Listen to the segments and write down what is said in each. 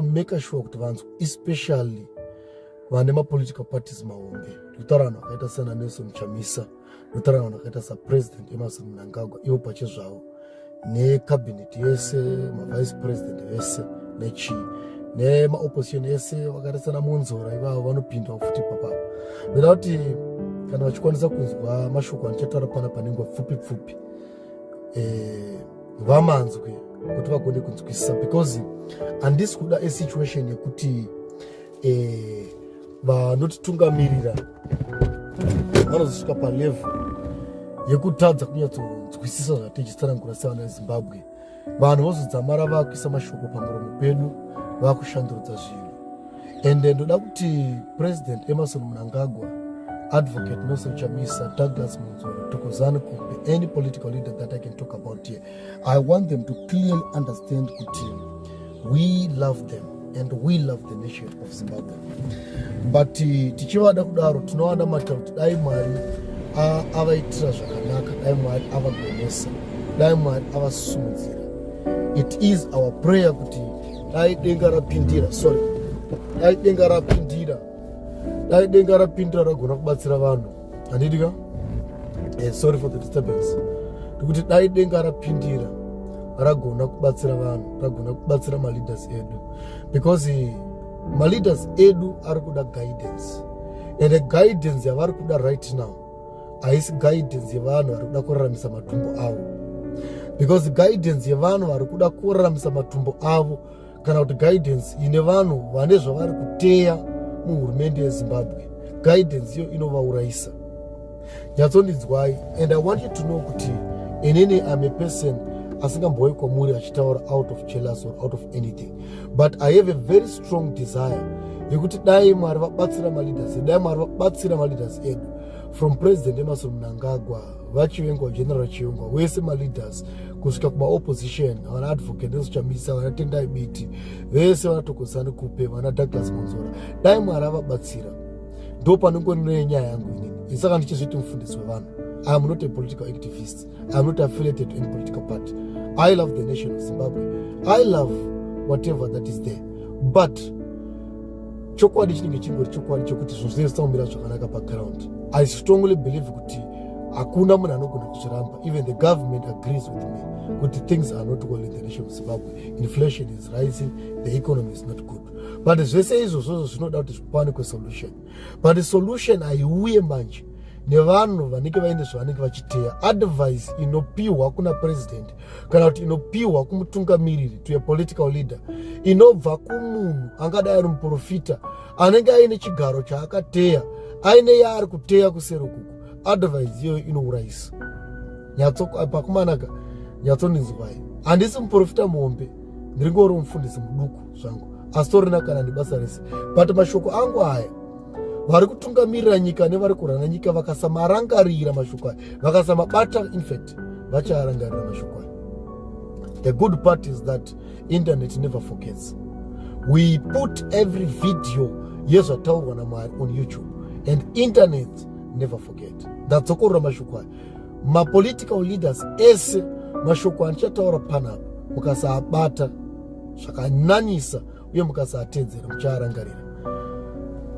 maker sure kuti vanzwa especially vane mapolitical parties mahombe ndikutaura vanhu vakaita sana nelson chamisa ndikutaura vanhu vakaita sapresident emerson mnangagwa ivo pache zvavo necabinet yese mavice president vese nechii nemaopposition ese vakaita sana monzora ivavo vanopindwa futi papapa ndoda kuti kana vachikwanisa kunzwa mashoko anochataura pana panengwa pfupi pfupi eh, vamanzwe kuti vagone kunzwisisa because handisi kuda esituation yekuti eh, vanotitungamirira vanozosvika palevel yekutadza kunyatsonzwisisa zvatichisarangura sevana vezimbabwe vanhu vozodzamara vakuisa mashoko pamuromo pedu vakushandurudza zvinhu and ndoda kuti president emerson munangagwa advocate nelson chamisa douglas munzoro tokozani kumbe any political leader that i can talk about here i want them to clearly understand kuti we love them and we love the nation of zimbabwe but eh, tichivada kudaro tinovada matya kuti dai mwari avaitira zvakanaka dai mwari avagonesa dai mwari avasumudzira it is our prayer kuti dai denga rapindira sorry dai denga rapindira dai denga rapindira ragona kubatsira vanhu handidi ka eh, sorry for the disturbance ndikuti dai denga rapindira ragona kubatsira vanhu ragona kubatsira maleaders edu because eh, maleaders edu ari kuda guidance and guidance yavari kuda right now haisi guidance yevanhu vari kuda kuraramisa matumbo avo because guidance yevanhu vari kuda kuraramisa matumbo avo kana kuti guidance ine vanhu vane zvavari kuteya muhurumende yezimbabwe guidance iyo inovaurayisa nyatsondinzwai and i want you to know kuti inini im a person asingambouyi kwamuri achitaura out of jealous or out of anything but i have a very strong desire yekuti dai mwari vabatsira maleaders edu dai mwari vabatsira maleaders edu from president emerson mnangagwa vachivengwa general chivengwa wese maleaders kusvika kumaopposition vana advocate nezvichamisa vana tendai biti vese vanatokozani kupe vana douglas monzora dai mwari avabatsira ndo panongone nyaya yangu inini isaka ndichizviti mufundisi wevanhu iam not a political activist iam not affiliated to any political party i love the nation of zimbabwe i love whatever that is there but chokwadi chinenge chingori chokwadi chokuti zvinhu zvinenge zvisina kumira zvakanaka paground i strongly believe kuti hakuna munhu anogona kuzviramba even the government agrees with me kuti things are not well in the nation of zimbabwe inflation is rising the economy is not good but zvese izvozvozvo zvinoda kuti zvipanikwe solution but solution haiuye manje nevanhu vanenge vaine zvavanenge vachiteya advice inopiwa kuna president kana kuti inopiwa kumutungamiriri to a political leader inobva kumunhu angadai ari muprofita anenge aine chigaro chaakateya aine yaari kuteya kusero kuku advise iyoyo inourayisa nyatsopakumanaka nyatsonizwai handisi muprofita muhombe ndiri ngori mufundisi muduku zvangu asi torina kana nebasa rese but mashoko angu aya vari kutungamirira nyika nevari kurana nyika vakasamarangarira mashoko aya vakasamabata infact past vachaarangarira mashoko ayo the good part is that internet never forgets we put every video yezvataurwa namwari on youtube and internet never forget ndadzokorora mashoko ayo mapolitical leaders ese mashoko andichataura panapa mukasaabata zvakanyanyisa uye mukasaatedzera muchaarangarira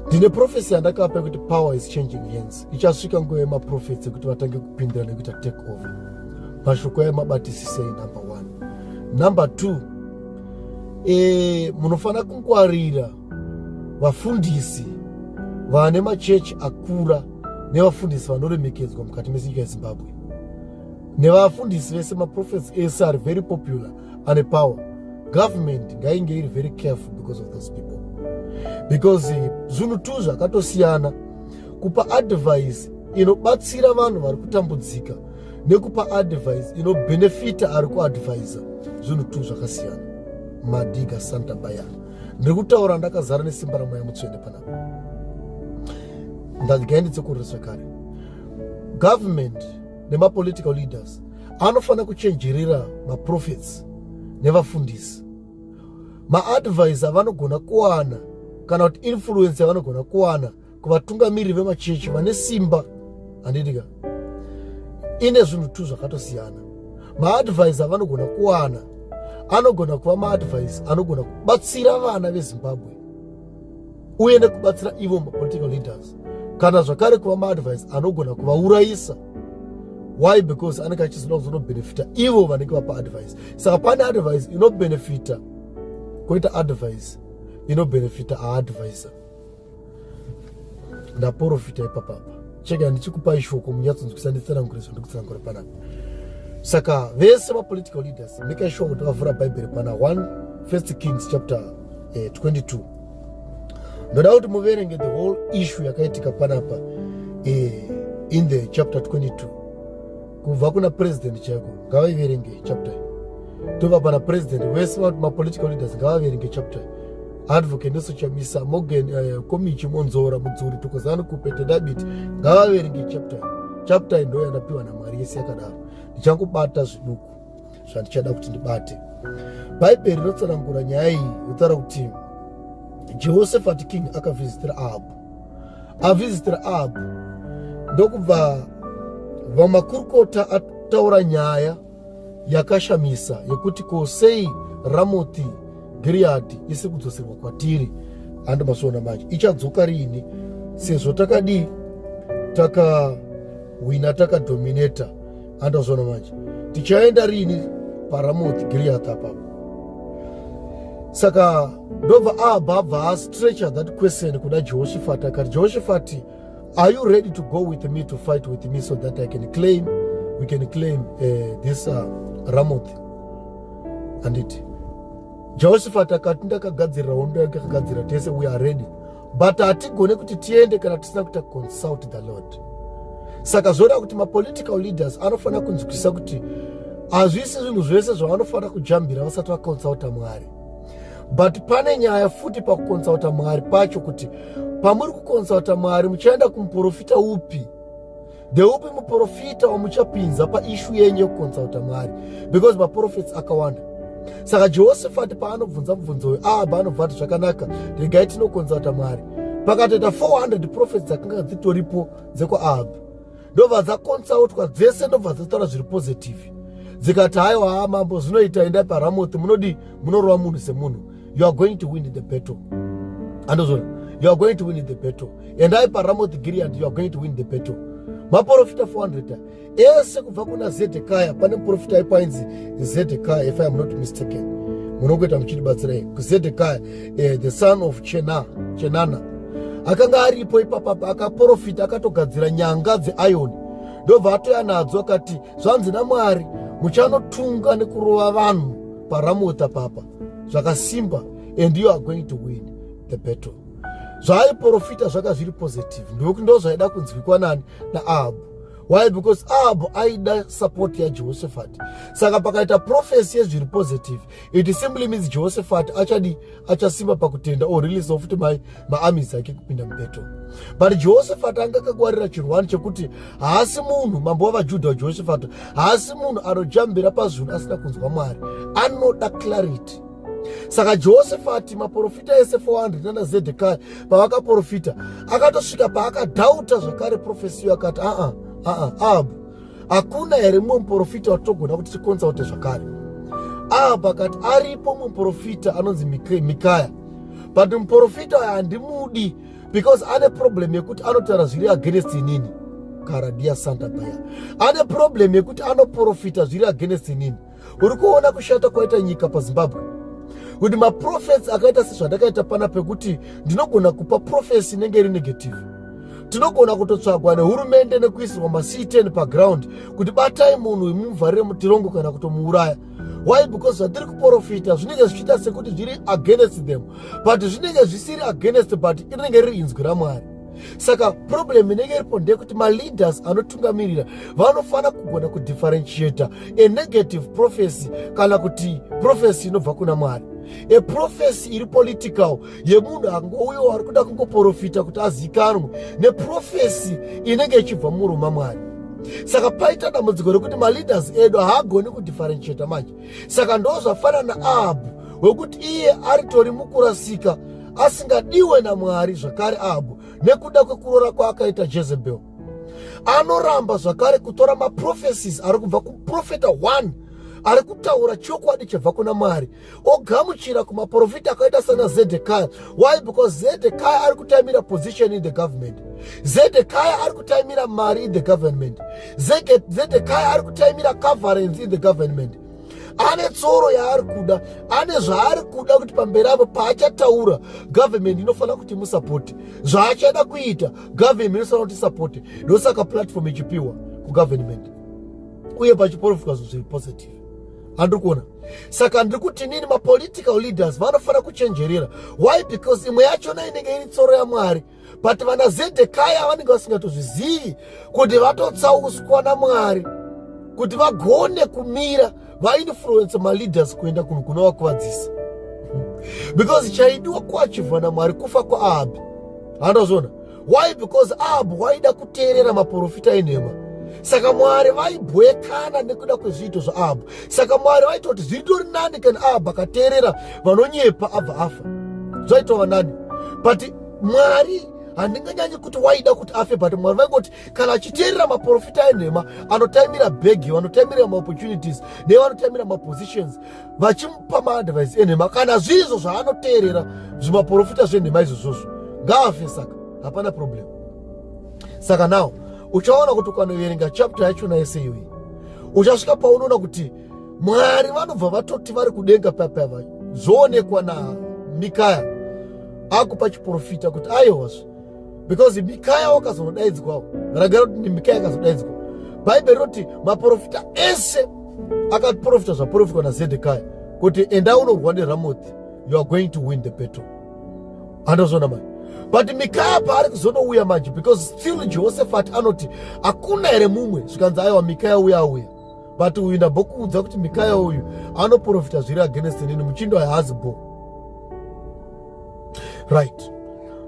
ndine profesi yandakapa yekuti power is changing hands ichasvika nguva yemaprofesi ekuti vatange kupindira nekuita take over mashoko ayo mabatisisei number one number two e, munofanira kungwarira vafundisi vane machechi akura nevafundisi vanoremekedzwa mukati menyika yezimbabwe nevafundisi vese maprofesi ese ari very popular ane power government ngainge iri very careful because of those people because eh, zvinhu tu zvakatosiyana kupa advice inobatsira vanhu vari kutambudzika nekupa advice inobenefita ari kuadvisa zvinhu tu zvakasiyana madiga santa baya ndiri kutaura ndakazara nesimba ramweya mutsvene panapa ndagainditse kurira zvakare government nemapolitical leaders anofanira kuchenjerera maprofets nevafundisi maadvise avanogona kuwana kana kuti influence yavanogona kuwana kuvatungamiriri vemachechi vane simba handitika ine zvinhu two zvakatosiyana maadvise avanogona kuwana anogona kuva maadvise anogona kubatsira vana vezimbabwe uye nekubatsira ivo mapolitical leaders kana zvakare kuva maadvise anogona kuvaurayisa why because anenge achizoda kuzonobhenefita ivo vanenge vapa advise saka pane advise inobhenefita koita advise inobhenefita aadvisa ndaporofita ipapapa cheke handichikupa ishoko munyatsonzwisa nditsanangure zvandikutsanangura panapa saka vese mapolitical leaders make sure kuti vavhura bhaibheri pana 1 first kings chapter eh, 22 ndoda kuti muverenge the whole issue yakaitika panapa eh, in the chapter 22 kubva kuna president chaiko ngavaiverenge chapter tova pana president vese vati mapolitical leaders ngavaverenge chapter advocate nesochamisa morgan uh, eh, komichi monzora mudzuri tokozani kupete dabiti ngavaverenge chapter chapter indoyandapiwa namwari yese yakadaro ndichangobata zviduku zvandichada kuti ndibate bhaibheri rinotsanangura nyaya iyi rotaura kuti jehoshafati king akavhizitira ahabhu avhizitira ahabhu ndokubva vamakurukota ataura nyaya yakashamisa yekuti ko sei ramoti giriyadhi isiri kudzoserwa kwatiri handi masoona manje ichadzoka riini sezvo takadii takahwina takadomineta handazona manje tichaenda riini paramoth giriat apapo saka ndobva abva abva astretcher that question kuda jehoshafati akati jehoshafati are you ready to go with me to fight with me so that i can claim we can claim uh, this uh, ramoth anditi jehoshafati akati ndakagadzirira hondo yake akagadzira tese we are ready but hatigone kuti tiende kana tisina kuita consult the lord saka zvoda kuti mapolitical leaders anofanira kunzwisisa kuti hazvisi zvinhu zvese zvavanofanira kujambira vasati vakonsulta mwari but pane nyaya futi pakukonsulta mwari pacho kuti pamuri kukonsulta mwari muchaenda kumuprofita upi ndeupi muprofita wamuchapinza paishu yenyu yekukonsulta mwari because maprofits akawanda saka jehoshafati paanobvunza mubvunzo uyu ahabha anobva ati zvakanaka regai tinokonsulta mwari pakatoita 400 profits dzakanga dzitoripo dzekwaahab ndobva dzakonsautwa dzese ndobva dzataura zviri positive dzikati haiwa haa mambo zvinoita endai paramoth munodii munorova munhu semunhu you are going to win the battle andozvona you are going to win the battle endai paramoth gilead you are going to win the battle maprofita 400 ese kubva kuna zedhekaya pane muprofita aipo ainzi zedhekaya if iam not mistaken munongoita muchitibatsirai kuzedhekaya eh, the son of chenana Chena. akanga aripo ipapapa akaprofita akatogadzira nyanga dzeioni ndobva atoya nadzo akati zvanzi namwari muchanotunga nekurova vanhu paramota papa zvakasimba and you are going to win the battle zvaaiprofita zvaka zviri positive ndokuti ndo zvaida kunzwikwa nani naahabhu why because ahabhu aida support yajehoshafati saka pakaita profesi yezviri positive it simply means jehoshafati achadi achasimba pakutenda or release ofuti mai maamis ake kupinda mubeto but jehoshafati anga akakwarira chirwani chekuti haasi munhu mambo wavajudha wajehoshafati haasi munhu anojambira pazvinhu asina kunzwa mwari anoda clarity saka jehosefati maprofita ese 400 nana zedekai pavakaprofita akatosvika paakadhauta zvakare profesiyo akati aa aa ahabu hakuna here mumwe muprofita watogona kuti tikonsaute zvakare ahabu akati aripo mumwe muprofita anonzi mikaya but muprofita uyo handimudi because ane problem yekuti anotaura zviri against inini karadia santa baya ane problem yekuti anoprofita zviri against inini uri kuona kushata kwaita nyika pazimbabwe kuti maprofesi akaita sezvandakaita pana pekuti ndinogona kupa profesi inenge iri negative tinogona kutotsvagwa nehurumende nekuisirwa mactn paground kuti batai munhu imumuvharire mutirongo kana kutomuuraya why because zvatiri kuprofita zvinenge zvichiita sekuti zviri against them but zvinenge zvisiri against but rinenge riri inzwi ramwari saka problem inenge iripo ndeyekuti maleaders anotungamirira vanofanira kugona kudifferentiata a negative prophecy kana kuti prophecy inobva kuna mwari a prophecy iri political yemunhu angouyo ari kuda kungoprofita kuti azikanwe neprofhecy inenge ichibva muruma mwari saka paita dambudziko rekuti maleaders edu haagoni kudifferentiata manje saka ndo zvafanana aabu wekuti iye aritori mukurasika asingadiwe naMwari zvakare Ahabhu nekuda kwekuroora kwaakaita Jezebel. Anoramba zvakare kutora maprofesis ari kubva kuprofeta one ari kutaura chokwadi chibva kuna mwari ogamuchira kumaprofita akaita sana zedhekaya why because zedhekaya ari kutaimira position in the government zedhekaya ari kutaimira mari in the government zedhekaya ari kutaimira coverance in the government ane tsoro yaari kuda ane zvaari kuda kuti pamberi apo paachataura government inofanira kuti musapoti zvaachada kuita government inofanira kuti sapoti ndosaka platform ichipiwa kugovernment uye pachiporofitwa zvinhu zviri positive handiri kuona saka ndiri kuti nini mapolitical leaders vanofanira kuchenjerera why because imwe yachona inenge iri tsoro yamwari but vana zedhekaya vanenge vasingatozvizivi kuti vatotsauswa namwari kuti vagone kumira vainfluence maleaders kuenda kunhu kunovakuvadzisa because chaidiwa kuachivhwa namwari kufa kwaahabhi handazvona why because ahabhi waida kuteerera maprofita enhema saka mwari vaibwekana nekuda kwezviito zvaahabhi saka mwari vaita kuti zviritori nani kana ahabhi akateerera vanonyepa abva afa zvaitova nani but mwari handinganyanyi kuti waida kuti afe but mwari vaingoti kana achiteerera maprofita enhema anotaimira bhegi vanotaimira maopportunities ne vanotaimira mapositions vachimupa maadvice enhema kana zvirizvo zvaanoteerera zvimaprofita zvenhema izvozvozvo ngaafe saka hapana problem saka now uchaona kuti ukanoverenga chapter yachona yese iyoyi uchasvika paunoona kuti mwari vanobva vatoti vari kudenga papava zvoonekwa namikaya akupa chiprofita kuti aihozve because mikaya wakazonodaidzwawo ragara kuti mikaya akazodaidzwa bhaibheri roti maprofita ese akaprofita zvaprofitwa nazedhekaya kuti enda unorwa neramothi you are going to win the battle andozvona mani but mikaya paari kuzonouya manje because still jehoshafati anoti hakuna here mumwe zvikanzi aiwa mikaya uya auya but uyu ndambokuudza kuti mikaya uyu anoprofita zviri against nini muchindo haazi bo right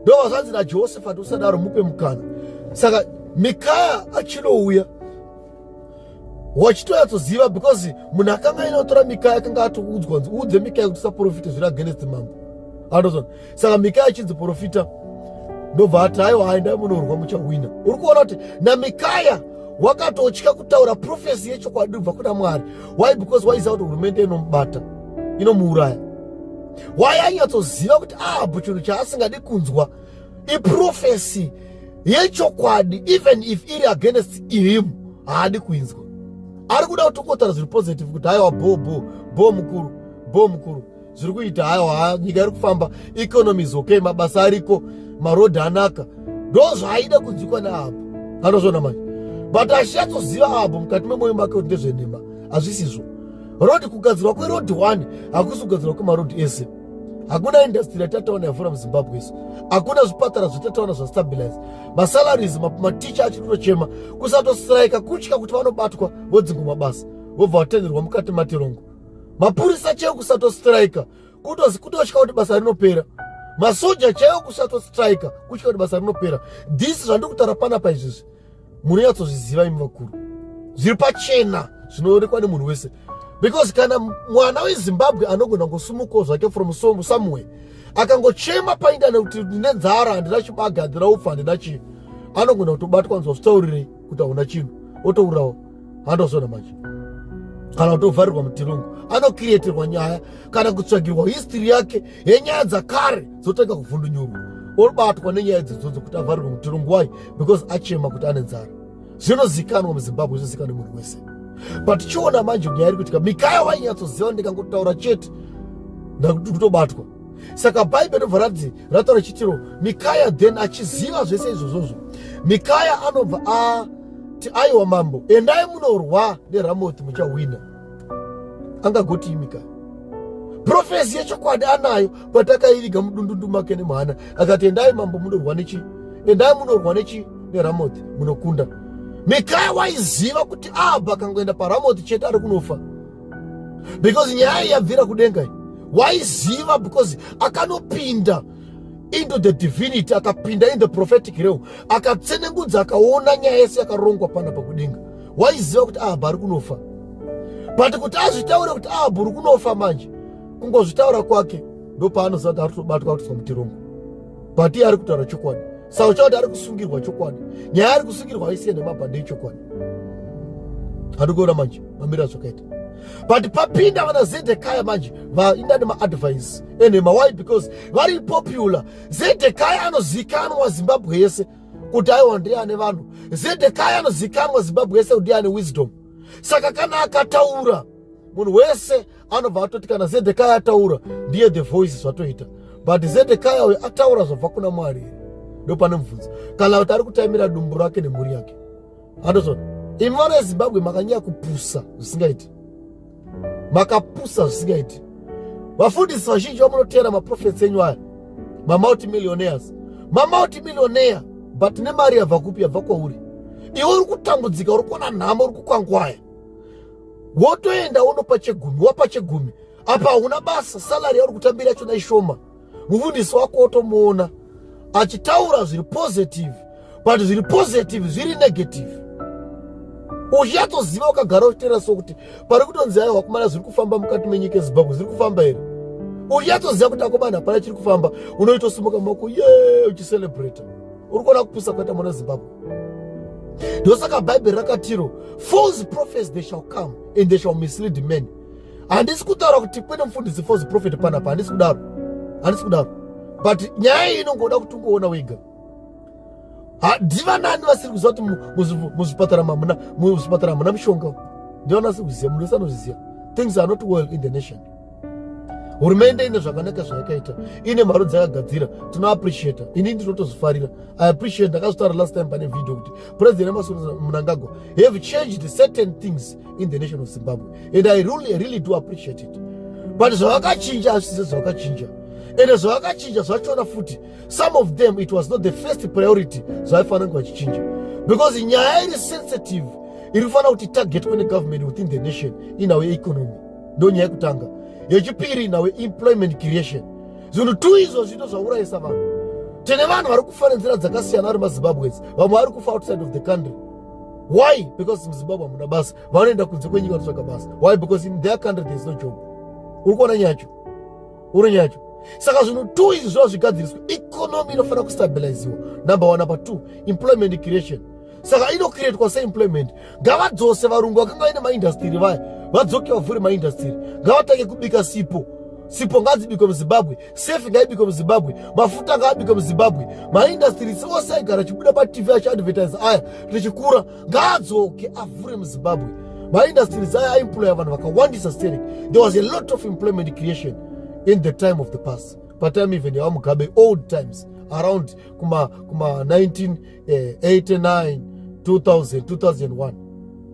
ndova zvanzi najosefati usadaro mupe mukana saka mikaya achinouya wachitonyatsoziva because munhu akanga ainotora mikaya akanga atoudzwa nzi uudze mikaya kuti usaprofite zviri against mambo andozona saka mikaya achinzi profita ndobva ati haiwa aendai munorwa muchahwina uri kuona kuti namikaya wakatotya kutaura profesi yechokwadi kubva kuna mwari why because waiziva kuti hurumende inomubata inomuuraya why anyatsoziva kuti ahabho ah, chinhu chaasingadi kunzwa iprofesi yechokwadi even if iri against him haadi kuinzwa ari kuda kuti ungotaura zviri positive kuti haiwa bho bho bho mukuru bho mukuru zviri kuita hawa nyika iri kufamba economy is okay mabasa ariko marodhi anaka ndo zvaaida kunzwikwa neapo anozvona manje but ashatsoziva apo mukati memoyo make kuti ndezvenhema hazvisizvo rodhi kugadzirwa kwerodhi one hakusi kugadzirwa kwemarodhi ese hakuna indastiri yatataona yavhura muzimbabwe isu hakuna zvipatara zvatataona zvastabilize masalaries maticha achiri kutochema kusatosiraika kutya kuti vanobatwa vodzingwa mabasa vobva vatenderwa mukati matirongo mapurisa chaiwo kusatostrika kutozi kutotya kuti basa rinopera masoja chaiwo kusatostrika kutya kuti basa rinopera this zvandiri kutaura panapa izvizvi munonyatsozviziva imi vakuru zviri pachena zvinoonekwa nemunhu wese because kana mwana wezimbabwe anogona kungosumukawo zvake from somewhere akangochema paindane kuti ndine nzara handina chibaga handina upfa handina chii anogona kutobatwa nzwa zvitaurirei kuti hauna chinhu otourawo handozona manje kana kutovharirwa mutirungu anokiriyeterwa nyaya kana kutsvagirwa histiri yake yenyaya dzakare dzotanga kuvhundunyurwa obatwa nenyaya dzidzodzo kuti avharirwe mutirungu wai because achema kuti ane nzara zvinozikanwa muzimbabwe zvizikanwa munhu wese but chiona manje nyaya iri kuitika mikaya wainyatsoziva ndikangotaura chete ndakutobatwa saka bhaibheri ndobva rati rataura chitiro mikaya then achiziva zvese izvozvozvo mikaya anobva ati aiwa mambo endai munorwa neramoti muchahwina angagotii mikaya profesi yechokwadi anayo but akaiviga mudundundu make nemwana akati endai mambo munorwa nechi endai munorwa nechi neramoti munokunda mikaya waiziva kuti abva akangoenda paramoti chete ari kunofa because nyaya yabvira kudenga waiziva because akanopinda into the divinity akapinda in the prophetic realm akatsenengudza akaona nyaya yese yakarongwa pana pakudenga waiziva kuti ahabha ah, ari kunofa but kuti azvitaure kuti ahabha ah, uri kunofa manje kungozvitaura kwake ndopaanoziva kuti ari kutobatwa kuti samutirongo but iye ari kutaura chokwadi saucha kuti ari kusungirwa chokwadi nyaya ari kusungirwa haisiye nemabhande echokwadi handikuona manje mamira zvakaita but papinda vana zedhekaya manje vainda nemaadvise enhema why because vari popular zedhekaya anozikanwa zimbabwe yese kuti aiwa ndiye ane vanhu zedhekaya anozikanwa zimbabwe yese kuti ndiye ane wisdom saka kana akataura munhu wese anobva atoti kana zedhekaya ataura ndiye the voice zvatoita but zedhekaya uyo ataura zvabva kuna mwari ndopane mubvunzo kana kuti ari kutaimira dumbu rake nemhuri yake andozvona imi vana vezimbabwe makanyaya kupusa zvisingaiti makapusa zvisingaiti vafundisi vazhinji vamunoteera maprofets enyu aya mamauti millionaires mamauti millionaire but nemari yabva kupi yabva kwauri iwe uri kutambudzika uri kuona nhamo uri kukwangwaya wotoenda wonopa chegumi wapa chegumi apa hauna basa salary yauri kutambira yachona ishoma mufundisi wako wotomuona achitaura zviri positive but zviri positive zviri negative uchatoziva ukagara uchiteera so kuti pari kutonzi ayo wakumana zviri kufamba mukati menyika ezimbabwe zviri kufamba here uchatoziva kuti akomana hapana chiri kufamba unoitosimuka mako ye uchicelebrata uri kuona kupusa kwaita mwana zimbabwe ndosaka bhaibheri rakatiro false prophets they shall come and they shall mislead men handisi kutaura kuti kwene mufundisi false prophet panapa handisi kudaro handisi kudaro but nyaya iyi inongoda kuti ungoona wega ndivanani vasiri kuziva kuti muzvipatara mamuna muzvipatara hamuna mushonga ndivanasi kuziva munhu wese anozviziva things are not well in the nation hurumende ine zvakanaka zvayakaita ine mari dzakagadzira tino appreciata ini ndinotozvifarira i appreciate ndakazvitaura last time pane video kuti president emasoro munangagwa have changed certain things in the nation of zimbabwe and i really, really do appreciate it but zvavakachinja hazvise zvavakachinja ende zvavakachinja zvachona futi some of them it was not the first priority zvavaifanira kunge vachichinja because nyaya iri sensitive iri kufanira kuti targetwe negovernment within the nation in our economy ndonyaya yekutanga yechipiri nawe employment creation zvinhu two izvo zvito zvaurayisa vanhu tine vanhu vari kufa nenzira dzakasiyana vari mazimbabwes vamwe vari kufa outside of the country why because muzimbabwe hamuna basa vanoenda kunze kwenyika vanotsvaga basa why because in their country there is no job uri kuona nyacho uri nyacho saka zvinhu two izvi zvava zvigadziriswa economy inofanira kustabiliziwa number one number two employment creation saka inokiretwa seemployment ngavadzose varungu vakanga vaine maindastiri vaya vadzoke vavhure maindastiri ngavatange kubika sipo sipo ngadzibikwe muzimbabwe sefi ngaibikwe muzimbabwe mafuta ngaabikwe muzimbabwe maindastiri seose aigara achibuda patv achiadvertise aya tichikura ngaadzoke avhure muzimbabwe maindastiri aya aimploya vanhu vakawandisa sterek there was a lot of employment creation in the time of the past patime even yawamugabe old times around kuma, kuma 19 eh, 89 2000 2001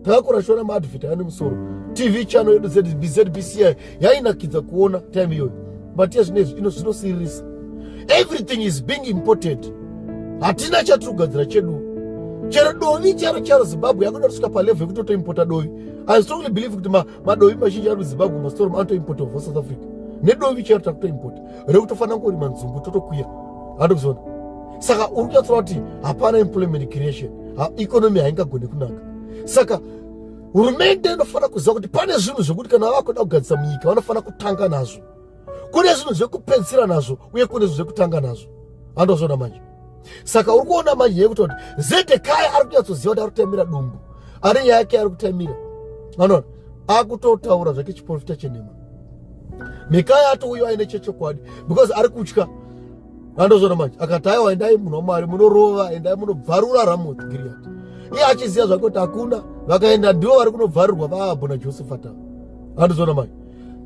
takakura shona maadvert ane musoro tv channel yedu zbcbci yainakidza kuona time iyoyo but yezvinezvi ino zvinosiririsa everything is being imported hatina chatiri kugadzira chedu chero dovi charo charo zimbabwe yakuda kusvika palevel yekuti otoimpota dovi i strongly believe kuti madovi mazhinji ari muzimbabwe masitoro maanotoimpota ova south africa nedovi charo takutoimpota rekutofanira kurima nzungu totokwira andikuzoona saka uri kutaura kuti hapana employment creation economy haingagone kunaka saka hurumende inofanira kuziva kuti pane zvinhu zvekuti kana vakuda kugadzisa munyika vanofanira kutanga nazvo kune zvinhu zvekupedzisira nazvo uye kune zvinhu zvekutanga nazvo vandozvona manje saka uri kuona manje yekuti kuti zedekai ari kunyatsoziva kuti ari kutemira dumbu ari nyaya yake ari kutemira vanoona akutotaura zvake chiporofita chenhema mikaya atouyo aine chechokwadi because ari kutya vandozoona manje akati aiwa endai munhu wamwari munorova endai munobvarura ramoti giriyati iye achiziva zvake kuti hakuna vakaenda ndivo vari kunobvarirwa vaahabho najosefata vandozoona manje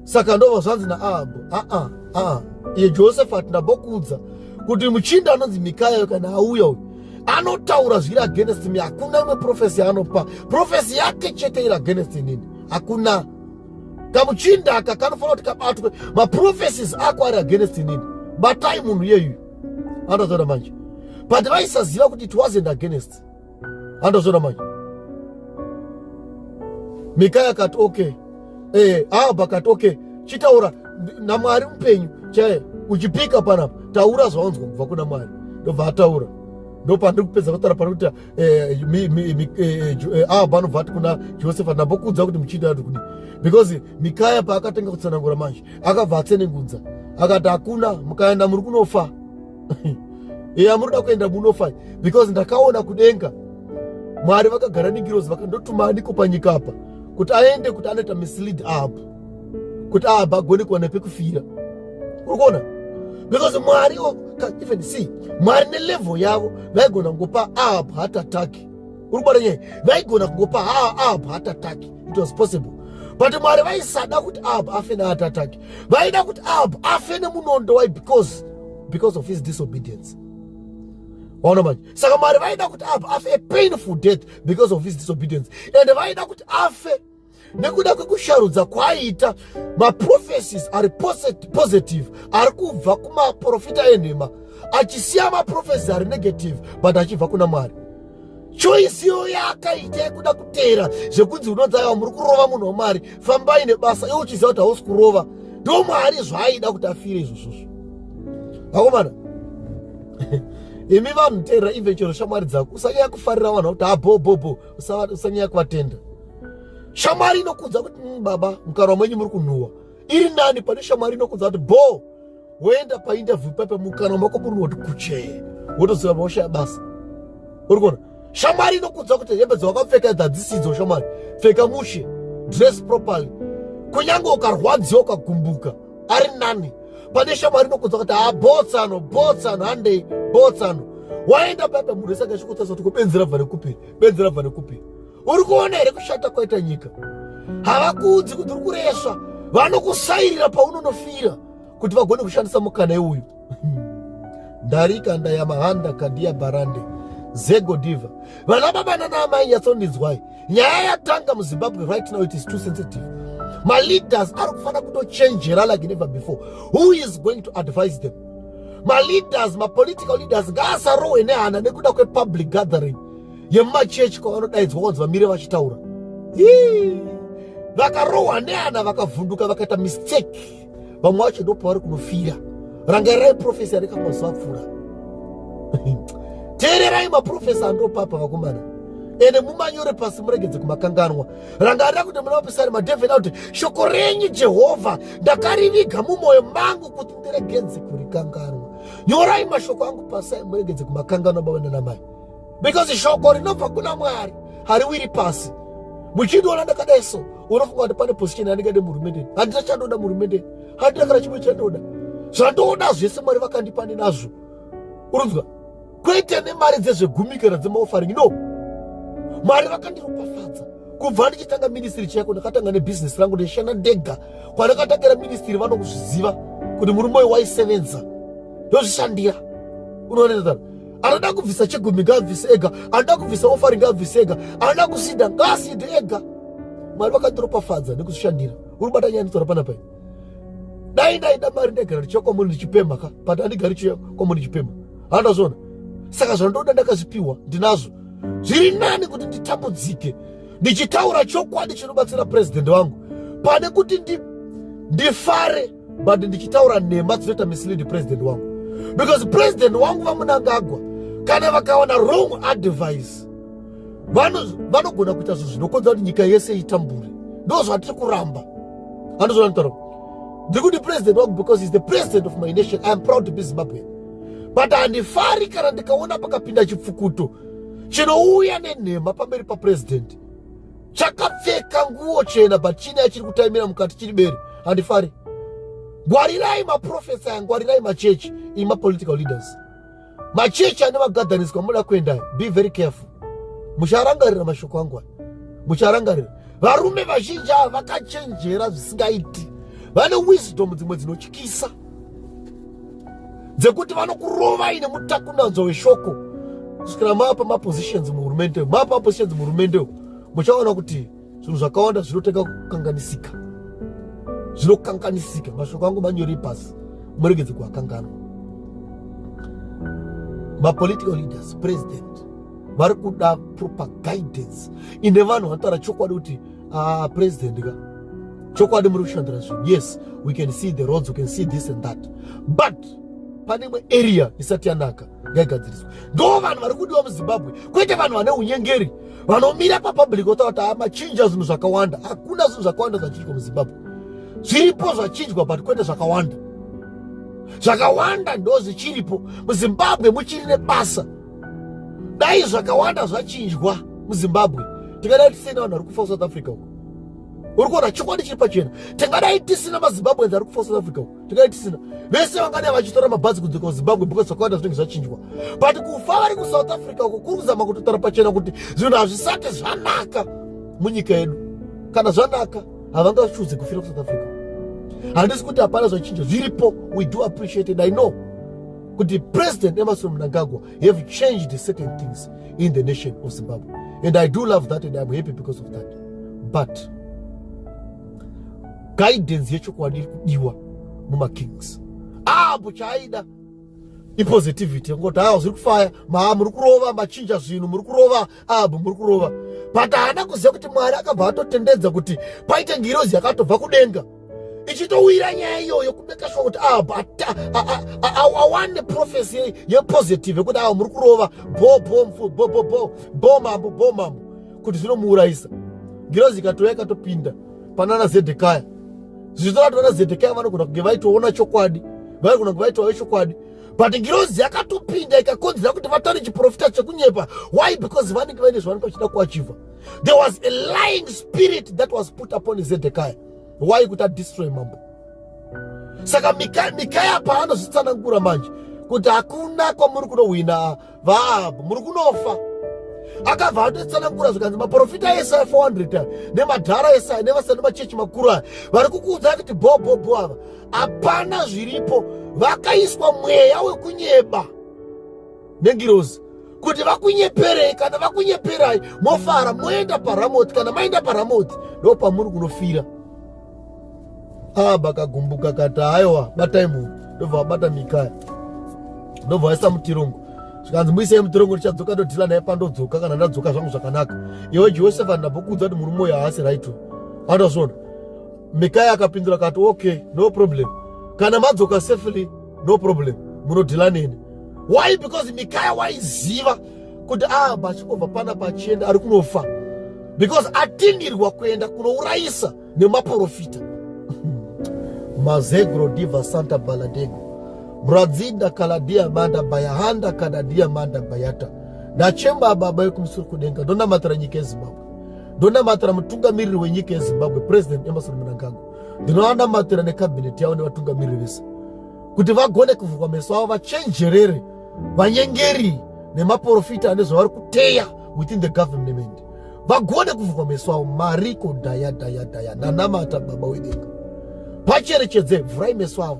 saka ndova zvanzi naahabho aa aa iye josefati ndambokuudza kuti muchinda anonzi mikayayo kana auya uyu anotaura zviri against me hakuna imwe profesi yaanopa profesi yake chete iri against inini hakuna kamuchinda aka kanofanira kuti kabatwe maprophecies ako ari against inini batai munhu iyeyu andozoona manje but vaisaziva kuti it wasn't against andozoona manje mikaya akati okay eh, ahab akati okay chitaura namwari mupenyu chaye uchipika panapa taura zvawanzwa kubva kuna mwari ndobva ataura ndopandiri kupedza kutaura pari kuita eh, eh, eh, ava panobva ati kuna josefa ndambokuudza kuti muchiita ati kudi because mikaya paakatanga kutsanangura manje akabva atsenengudza akati hakuna mukaenda muri kunofa eya munoda kuenda munofa because ndakaona kudenga mwari vakagara negirozi vakandotuma aniko panyika apa kuti aende kuti anoita mislead up kuti aabagoni kuwana pekufira uri kuona because mwari even see mwari nelevel yavo vaigona kungopa aab heart attack uri kubata nyaya vaigona kungopa aab heart attack it was possible but mwari vaisada kuti aab afe neheart attack vaida kuti aab afe nemunondo why because because of his disobedience waona manje saka mwari vaida kuti aab afe a painful death because of his disobedience and vaida kuti afe nekuda kwekusharudza kwaaita maprofesis ari positive ari kubva kumaprofita enhema achisiya maprofesi ari negative but achibva kuna mwari choisi iyo yaakaita yekuda kuteera zvekunzi unonzi aiwa muri kurova munhu wamwari fambai nebasa iwe uchiziva kuti hausi kurova ndo mwari zvaaida kuti afire izvozvozvo vakomana imi vanhu teerera even chero shamwari dzako usanyaya kufarira vanhu vakuti abhobhobho ah, usanyaya kuvatenda shamwari inokudza kuti mm, baba mukarwa mwenyu muri kunhuwa iri nani pane shamwari inokudza kuti bho woenda painterview pape mukanwa mako muri woti kuchee wotoziva maosha yabasa uri kuona shamwari inokudza kuti hembe dzawakapfeka idzi hadzisidzo shamwari pfeka mushe dress properly kunyange ukarwadziwa ukagumbuka ari nani pane shamwari inokunza kuti haa botsano botsano handei botsano waenda paipa munhu wese akachikutasa kuti kubenzi rabva nekupi benzi rabva nekupi uri kuona here kushata kwaita nyika havakuudzi kuti uri kuresva vanokusairira paunonofira kuti vagone kushandisa mukana iuyu ndarika ndayamahanda kandiya barande zego diva vana baba nana amai nyatsondinzwai nyaya yatanga muzimbabwe right now it is too sensitive maleaders ari kufanira kutochenjera like never before who is going to advise them maleaders mapolitical leaders ngaasarohwe nehana nekuda kwepublic gathering yemumachechi kwavanodaidzwa kwanzi vamire vachitaura vakarohwa nehana vakavhunduka vakaita mistake vamwe vacho ndopavari kunofira rangarirai profesi aneka mazuva apfuura teererai maprofesi andopapa vakomana ende mumanyore pasi muregedze kumakanganwa rangarira kuti muna vapisari madhevheni akuti shoko renyu jehovha ndakariviga mumwoyo mangu kuti ndiregedze kurikanganwa nyorai mashoko angu pasai muregedze kumakanganwa baba nanamai because shoko rinobva kuna mwari hariwiri pasi muchindiona ndakadai so unofunga kuti pane position yandingade muhurumendeni handina chandoda muhurumendeni handina kana chimwe chandoda zvandoda zvese mwari vakandipa nenazvo unonzwa kwete nemari dzezvegumi kana dzemaofaring no mwari vakandiropafadza kubva ndichitanga ministry chako ndakatanga nebhizinesi rangu ndishanda ndega kwandakatangira ministry vanokuzviziva kuti murume uyu waisevenza ndozvishandira unoonetsaa anoda kubvisa chigumi ngaabvise ega anoda kubvisa ofari ngaabvise ega anoda kusida ngaaside ega mwari vakatiropafadza nekuzvishandira uri bata nyaya nditsora panapai dai ndaida mari ndaigara ndichiya kwamuri ndichipemha ka but andigari chiya kwamuri ndichipemha handazvona saka zvandoda ndakazvipiwa ndinazvo zviri nani kuti nditambudzike ndichitaura chokwadi chinobatsira purezidendi wangu pane kuti ndifare but ndichitaura nhema dzinoita mislead president wangu because president wangu vamunangagwa kana vakawana wrong advice vanogona kuita zvinhu zvinokonzera kuti nyika yese itambure ndo zvatiri kuramba andozvanitaura ndiri kuti president wangu because is the president of my nation iam proud to be zimbabwean but handifari kana ndikaona pakapinda chipfukuto chinouya nenhema pamberi papresidenti chakapfeka nguo chena but chine achiri kutaimira mukati chiri bere handifari ngwarirai maprofesa aya ngwarirai machechi iri mapolitical leaders machechi ane magadhaniswa muda kuendai be very careful mucharangarira mashoko angu aya mucharangarira varume vazhinji ava vakachenjera zvisingaiti vane wisdom dzimwe dzinotyisa dzekuti vanokurovai nemutakunanzwa weshoko kusvikira mapa mapositions muhurumende mapa mapositions muhurumende muchaona kuti zvinhu zvakawanda zvinotanga kukanganisika zvinokanganisika mashoko angu manyori pasi muregedze kuakanganwa mapolitical leaders president vari kuda proper guidance ine vanhu vanotaura chokwadi kuti ah, president ka chokwadi muri kushandira zvinhu yes we can see the roads we can see this and that but pane imwe area isati yanaka ngaigadziriswe ndo vanhu vari kudiwa muzimbabwe kwete vanhu vane unyengeri vanomira papublic votaura kuti amachinja zvinhu zvakawanda hakuna zvinhu zvakawanda zvachinjwa muzimbabwe zviripo zvachinjwa but kwete zvakawanda zvakawanda ndo zvichiripo muzimbabwe muchiri nebasa dai zvakawanda zvachinjwa muzimbabwe tingadai tisina vanhu vari kufa kusouth africa uko uri kuona chokwadi chiri pachena tingadai tisina mazimbabweans ari kufa south africa tingadai tisina vese vangadai vachitora mabhazi kudzoka kuzimbabwe because zvakawanda zvinenge zvachinjwa but kufa vari kusouth africa uko kuri kuzama kutotaura pachena kuti zvinhu hazvisati zvanaka munyika yedu kana zvanaka havangachuze kufira kusouth africa handisi kuti hapana zvachinja zviripo we do appreciate it i know kuti president emerson mnangagwa have changed certain things in the nation of zimbabwe and i do love that and iam happy because of that but guidance yechokwadi iri kudiwa mumakings apo chaaida ipositivity yekungoti haa zviri kufaya maa muri kurova machinja zvinhu muri kurova abu muri kurova but haana kuziva kuti mwari akabva atotendedza kuti paite ngirozi yakatobva kudenga ichitowira nyaya iyoyo kumeka sure kuti awane profesi yepositive yekuti awa muri kurova bo bo mfu bo bo bo bo mambo bo mambo kuti zvinomuurayisa ngirozi ikatouya ikatopinda panana zedhekaya zvichitora kuti vana zedhekaya vanogona kunge vaitoona chokwadi vaigona kunge vaitovayo chokwadi but ngirozi yakatopinda ikakonzera kuti vatane chiprofita chekunyepa why because vanenge vaine zvavanenge vachida kuachiva there was a lying spirit that was put upon zedhekaya why kuti adestroy mambo saka mikaya mikaya paanozvitsanangura manje kuti hakuna kwamuri kunohwina vaabho muri kunofa akabva atotsanangura zvikanzi maprofita ese aya 400 nemadhara ese aya nevasani machechi makuru aya vari kukuudza kuti bhobhobho ava hapana zviripo vakaiswa mweya wekunyeba nengirozi kuti vakunyeperei kana vakunyeperai mofara moenda paramoti kana maenda paramoti ndo pamuri kunofira aba kagumbuka kati haiwa batai munhu ndobva vabata mikaya ndobva vaisa mutirongo zvikanzi muisei mutirongo tichadzoka ndodhila naye pandodzoka kana ndadzoka zvangu zvakanaka iwe josefa ndambokuudza kuti murume uyo haasi right andazvona mikaya akapindura kati okay no problem kana madzoka safely no problem munodhila neni why because mikaya waiziva kuti ah bachingobva pana pachienda ari kunofa because atindirwa kuenda kunourayisa nemaporofita mazegro diva santa baladego mradzinda kaladia manda bayahanda kadadia manda bayata nachemba baba yekumusuru kudenga ndonamatira nyika yezimbabwe ndonamatira mutungamiriri wenyika yezimbabwe president emerson mnangagwa ndinovanamatira nekabhineti yavo nevatungamiriri vese kuti vagone kuvhurwa meso avo vachenjerere vanyengeri nemaporofita ane zvavari kuteya within the government vagone kuvhurwa meso avo mariko daya daya daya nanamata baba wedenga pacherechedze vhurai meso avo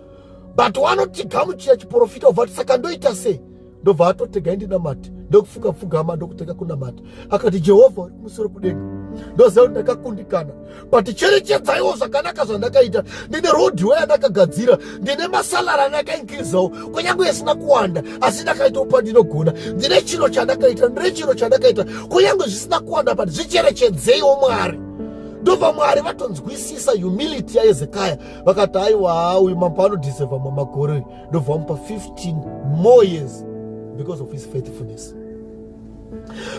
but wanoti gamuchira chiprofita obva ati saka ndoita sei ndobva atotega indinamati ndokufunga pfugama ndokutega kunamata akati jehovha uri kumusoro kudenga ndoziva kuti ndakakundikana but cherechedzaiwo zvakanaka zvandakaita ndine rodhiwe yandakagadzira ndine masalara andakainkizawo kunyange isina kuwanda asi ndakaitawo pandinogona ndine chiro chandakaita ndine chiro chandakaita kunyange zvisina kuwanda but zvicherechedzeiwo mwari ndobva mwari vatonzwisisa humility yaezekaya vakati aiwa uyu mambo anodiseva mamakore ndobva vamupa 15 more years because of his faithfulness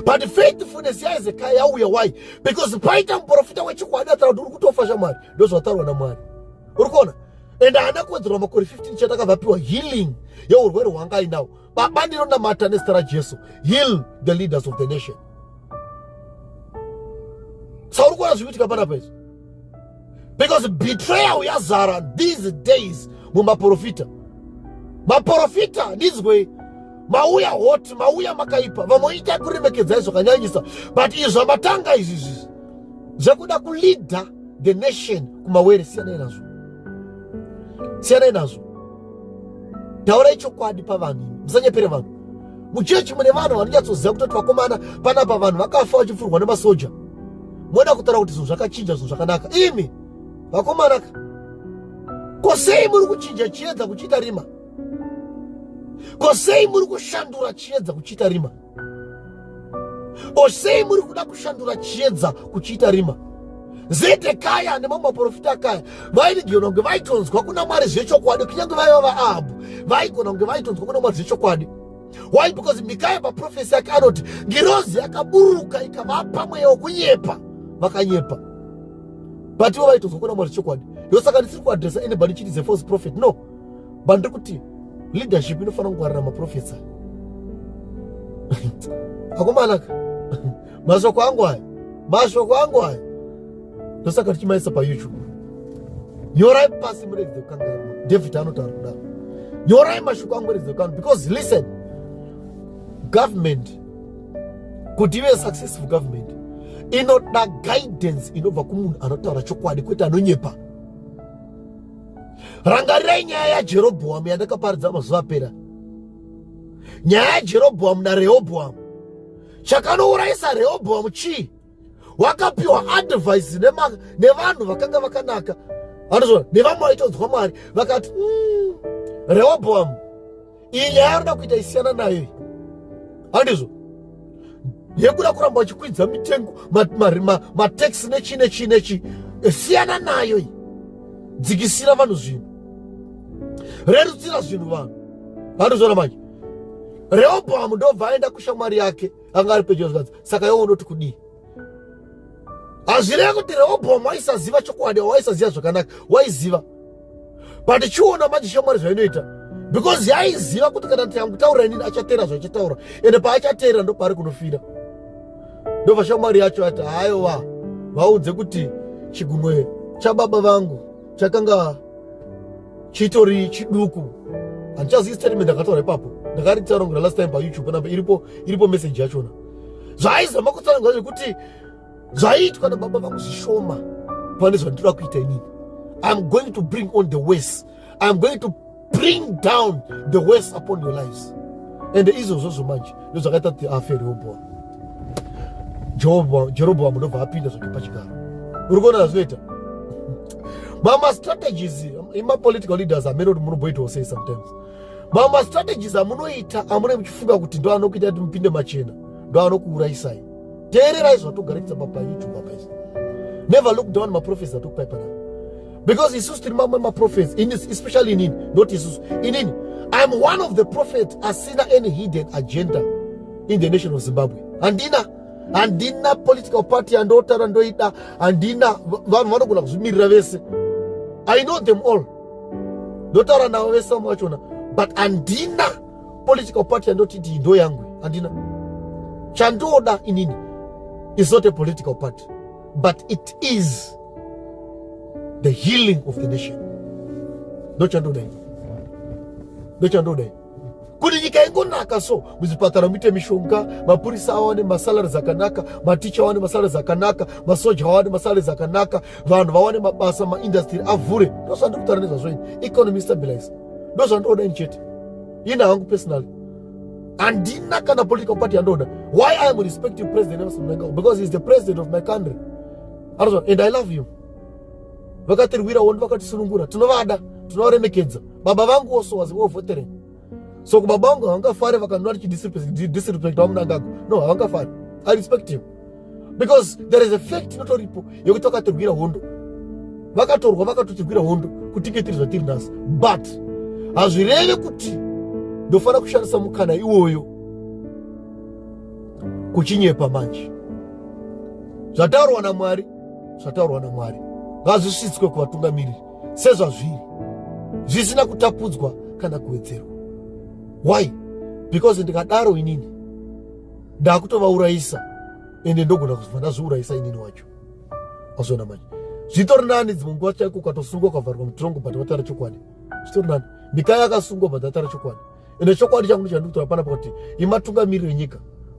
but faithfulness yaizekaya yauya why because paita muprofita wechikwadi ataura kuti uri kutofa shamwari ndozvataurwa namwari uri kuona and haana kuwedzerwa makore 15 chete akavapiwa healing yeurwere hwanga ainawo baba ndinonamata nezita rajesu heal the leaders of the nation sauri kuona zvikuitika panapa izvi because betrayal yazara these days mumaprofita maprofita ndizwei mauya hot mauya makaipa vamwe itai kuremekedzai zvakanyanyisa but izvi zvamatanga izvi izvi zvekuda kuleader the nation kumawere siyanai nazvo siyanai nazvo taurai chokwadi pavanhu musanyepere vanhu muchechi mune vanhu vanonyatsoziva kutoti vakomana panapa vanhu vakafa vachipfurwa nemasoja moda kutaura kuti zvinhu zvakachinja zvinhu zvakanaka imi vakomanaka ko sei muri kuchinja chiedza kuchiita rima ko sei muri kushandura chiedza kuchiita rima or sei muri kuda kushandura chiedza kuchiita rima zedhekaya nemamwe maprofita akaya vaigona kunge vaitonzwa kuna mwari zvechokwadi kunyange vaiva vaahabhu vaigona kunge vaitonzwa kuna mwari zvechokwadi why because mikaya paprofesi yake anoti ngirozi yakaburuka ikavapa mweya wokunyepa vakanyepa but ivo vaitonzwa kuna mwari zvechokwadi ndosaka ndisiri kuadresa anybody chiti is a false prophet no but ndikuti leadership inofanira kungwarira maprofesa akomanaka mashoko angu aya mashoko angu aya ndosaka tichimaisa payoutube nyorai pasi muregedze kukangaira david anotaura kudaro nyorai mashoko angu muregedze kukangaira because listen government kuti ive successful government inoda guidance inobva kumunhu anotaura chokwadi kwete anonyepa rangarirai nyaya yajerobhoamu yandakaparidza mazuva apera nyaya yajerobhoamu narehobhoamu chakanourayisa rehobhoamu chii wakapiwa advhaisi nevanhu vakanga vakanaka anozvona nevamwe vaitodzwa mwari vakati mm, rehobhoamu iyi nyaya yaanoda kuita isiyana nayo iyi handizvo yekuda kuramba vachikwidza mitengo mataxi nechi nechi nechi siyana nayo iyi dzikisira vanhu zvinhu rerutsira zvinhu vanhu handizvona manje rehobohamu ndobva aenda kushamwari yake anga ari pedyo zvikanzi saka yowo unoti kudii hazvireva kuti rehobhomu waisaziva chokwadi waisaziva zvakanaka waiziva but chiona manje shamwari zvainoita because yaiziva kuti kana tiangutaura inini achateera zvaachataura ende paachateera ndo paari kunofira ndobva shamwari yacho ati haiwa vaudze kuti chigunwe chababa vangu chakanga chitori chiduku handichazivi statement ndakataura ipapo ndakaritaura kuna last time payoutube panapa iripo iripo message yachona zvaaizama kutsanangura zvekuti zvaiitwa nababa vangu zvishoma pane zvandinoda kuita inini iam going to bring on the wes iam going to bring down the wes upon your lives ende izvozvozvo manje ndozvakaita kuti afe reobhora jeroboamu ndobva apinda zvake pachigaro uri kuona zvazvinoita mama strategies imapolitical leaders amene kuti munomboitawo sei sometimes mama strategies amunoita amune muchifunga kuti ndo anokuita kuti mupinde machena ndo anokuuraisai teererai zvatogarekisa papayoutube apaisi never look down maprofesi atokupai panapa because isusu tiri mamwe maprophets especially inini not isusu inini iam one of the prophet asina any hidden agenda in the nation of zimbabwe handina handina political party yandotaura ndoida handina vanhu vanogona kuzvimirira vese i know them all ndotaura navo vese vamwe vachona but handina political party yandoti ndii ndo yangu handina chandoda inini is not a political party but it is the healing of the nation ndochandoda ini ndochandoda ini kuti nyika ingonaka so muzvipatara muite mishonga mapurisa awane masalari dzakanaka maticha awane masalari dzakanaka masoja awane masalari dzakanaka vanhu vawane mabasa maindastry avhure ndozvandikutaura nezvazvo ini economy stabilize ndozvandoda ini chete ini hangu personally handina kana political party yandoda why i am respecting president nelson mnangagwa because he is the president of my country anozwa and i love you vakatirwirawo ndi vakatisunungura tinovada tinovaremekedza baba vangu also was wo votering so kubaba vangu havangafare vakanwa richidisrespect vamunangagwa no havangafare i respect him because there is a fact inotoripo yekuti vakatirwira hondo vakatorwa vakatotirwira hondo kutinge tiri zvatiri nhasi but hazvireve kuti ndofanira kushandisa mukana iwoyo kuchinyepa manje zvataurwa namwari zvataurwa namwari ngazvisvitswe kuvatungamiriri sezvazviri zvisina kutapudzwa kana kuwedzerwa why because ndikadaro inini ndakutovaurayisa ende ndogona kuzova ndazviurayisa inini wacho azviona manje zvitori nani dzimwe nguva chaiko ukatosungwa ukavharwa mutirongo but watara chokwadi zvitori nani mikai akasungwa but atara chokwadi ende chokwadi changu ndichandikutora pana pakuti imatungamiri venyika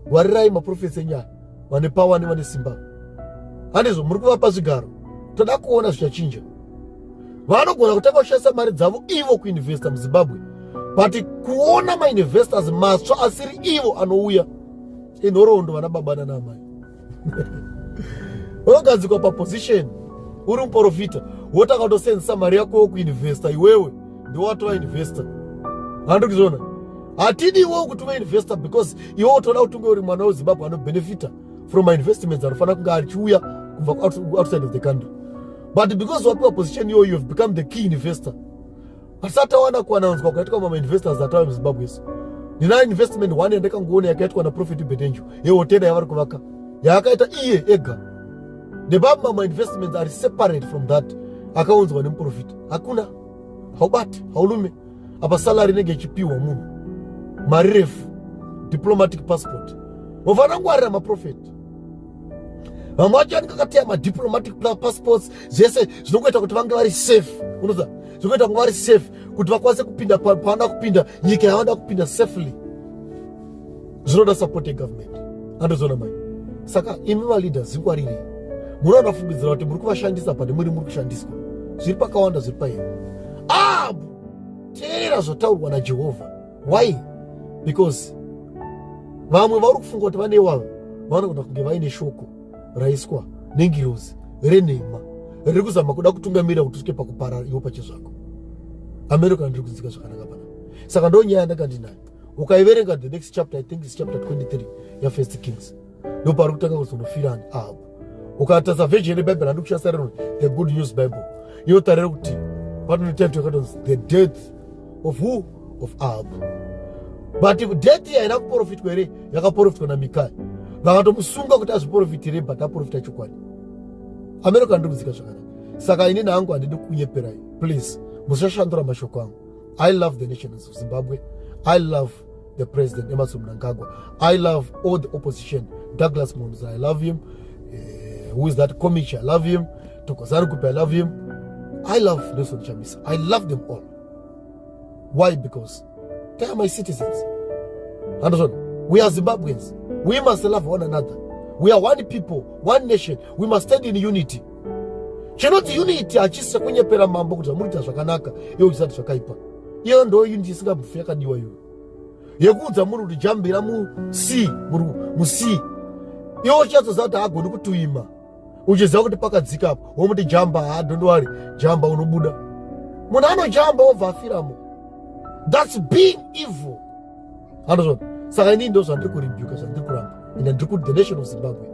gwarirai maprofesi enyaya vane pawa nevane simba hanizvo muri kuvapa zvigaro toda kuona zvichachinja vanogona kutanga kushandisa mari dzavo ivo kuinvesta muzimbabwe but kuona mainvestors matsva asiri ivo anouya inhoroondo vana baba nana amai unogadzikwa paposition uri muprofita wotanga kutosenzesa mari yako yokuinvesta iwewe ndiwatova investor handi kuzviona hatidi iwewo kuti uve investor because iwe utoda kuti unge uri mwana wezimbabwe anobenefita from my investments anofanira kunge achiuya kubva outside of the country but because wapiwa position iyoyo you have become the key investor pasatawana kuwananzwa kwakaitwa mamainvestors atava muzimbabwe isu ndina investment one yandakangoona yakaitwa naprofit betenju yehotera yavari kuvaka yaakaita iye ega nebamwe mamwe investments ari separate from that akaunzwa nemuprofita hakuna haubati haulume apa salary inenge ichipiwa munhu mari refu diplomatic passport wafana kungwarira maprofeti vamwe vacho anenge akateya madiplomatic passports zvese zvinongoita kuti vange vari safe unoza zvekuita kunga vari safe kuti vakwanise kupinda pavanoda kupinda nyika yavanoda kupinda safely zvinoda support yegovernment andozoona mai saka imi maleaders zingwarirei muri vanofungidzira kuti muri kuvashandisa pane muri muri kushandiswa zviri pakawanda zviri pairi ab teerera zvotaurwa najehovha why because vamwe vauri kufunga kuti vane wavo vanoda kunge vaine shoko raiswa nengirozi renhema riri kuzama kuda kutungamirira kuti usvike pakuparara iwo pachezvako amene kana ndiri kudzika zvakanaka pana saka ndo nyaya yandanga ndinayo ukaiverenga the next chapter i think is chapter 23 yafirst kings ndo paari kutanga kuzonofira ani ahabu ukatasa version yebhaibheri handi kushasa rino the good news bible inotarira kuti panoita mtu yakatonzi the death of who of ahabu but deti yaida kuprofitwa here yakaprofitwa namikaya vakatomusunga kuti azviprofitire but aprofita chokwadi amene kandirudzika zvakanaka saka inini hangu handidi kunyeperai please musashandura mashoko angu i love the nations of zimbabwe i love the president emerson mnangagwa i love all the opposition douglas monza i love him uh, who is that comic i love him Tokozari Kupe, I love him. I love Nelson Chamisa. I love them all. Why? Because they are my citizens. Understand? We are Zimbabweans. We must love one another. We are one people, one nation. We must stand in unity. chinoti unity hachisi chekunyepera mambo kuti amurita zvakanaka iyo uchisati zvakaipa iyo ndo unity isingamufi yakadiwa iyoyo yekuudza munhu kuti jambira musea musea iwo uchatsoziva kuti haagoni kutuima uchiziva kuti pakadzika apo womuti jamba ha don't worry jamba unobuda munhu anojamba obva afiramo thats being evil andozvona saka inii ndo zvandiri kuribuka zvandiri kuramba and ndiri kuti the nation of zimbabwe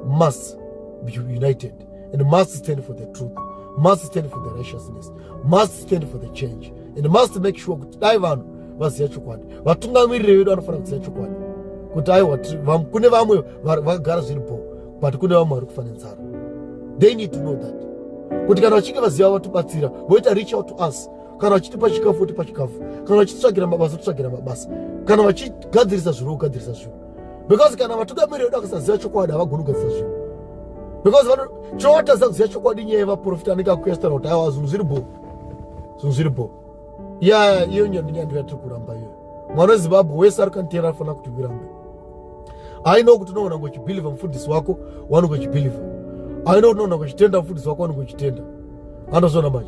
must be united and must stand for the truth must stand for the righteousness must stand for the change and must make sure kuti dai vanhu vaziva chokwadi vatungamiriri vedu vanofanira kuziva chokwadi kuti aiwa kune vamwe vagara zviri bhoo but kune vamwe vari kufa nenzara they need to know that kuti kana vachinge vaziva vatibatsira voita reach out to us kana vachitipa chikafu votipa chikafu kana vachitsvagira mabasa titsvagira mabasa kana vachigadzirisa zvinhu vogadzirisa zvinhu because kana vatugamiri vedu vakasaziva chokwadi havagoni kugadzirisa zvinhu because chinowatadza kuziva chokwadi nyaya yevaprofita anenge akuestana kuti awa zvinhu zviri bho zvinhu zviri bho ya iyo nyandi nyandi yatiri kuramba iyo mwana wezimbabwe wese ari kantera anofanira kuti virambe aino kuti unoona kuchibhilivha mufundisi wako wanongochibhilivha aino kuti unoona kuchitenda mufundisi wako wanongochitenda anozona manje